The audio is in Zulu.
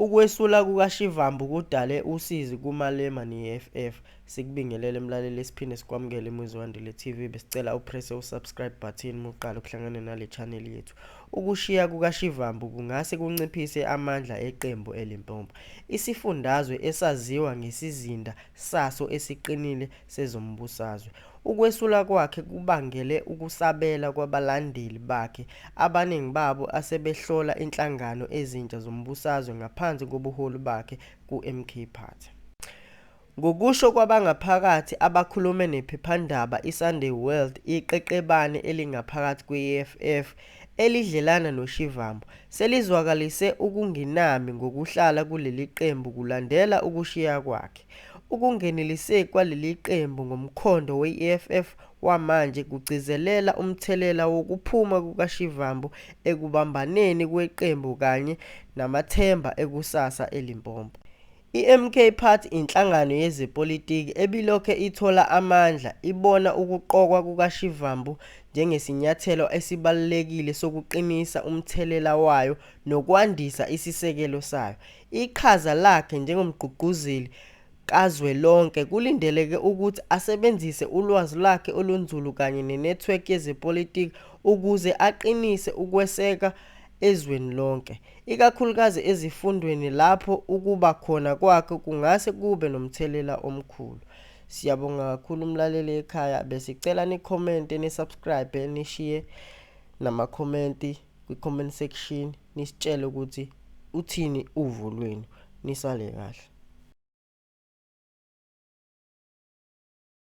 Ukwesula kukaShivambu kudale usizi kuMalema neEFF. Sikubingelele mlaleli siphinde sikwamukele eMuzwandile TV. Besicela uprese uSubscribe button muqala ukuhlangana nale channel yethu. Ukushiya kukaShivambu kungase kunciphise amandla eqembu eLimpopo. Isifundazwe esaziwa ngesizinda saso esiqinile sezombusazwe. Ukwesula kwakhe kubangele ukusabela kwabalandeli bakhe abaningi babo asebehlola inhlangano ezintsha zombusazwe ngaphansi kobuholi bakhe kuMK Party. Ngokusho kwabangaphakathi abakhulume nephephandaba iSunday World iqeqebane elingaphakathi kwe-EFF elidlelana noShivambu selizwakalise ukungenami ngokuhlala kuleli qembu kulandela ukushiya kwakhe. Ukungeneliseki kwaleli qembu ngomkhondo we-EFF wamanje kugcizelela umthelela wokuphuma kukaShivambu ekubambaneni kweqembu kanye namathemba ekusasa eLimpopo. I-MK Party inhlangano yezepolitiki ebilokhe ithola amandla ibona ukuqokwa kukaShivambu njengesinyathelo esibalulekile sokuqinisa umthelela wayo nokwandisa isisekelo sayo. Iqhaza lakhe njengomgqugquzeli kazwelonke kulindeleke ukuthi asebenzise ulwazi lwakhe olunzulu kanye nenethiwekhi yezepolitiki ukuze aqinise ukweseka ezweni lonke, ikakhulukazi ezifundweni lapho ukuba khona kwakhe kungase kube nomthelela omkhulu. Siyabonga kakhulu mlaleli ekhaya, besicela ni-comment, ni-subscribe, nishiye namakhomenti. kwi-comment section nisitshele ukuthi uthini uvo lwenu nisale kahle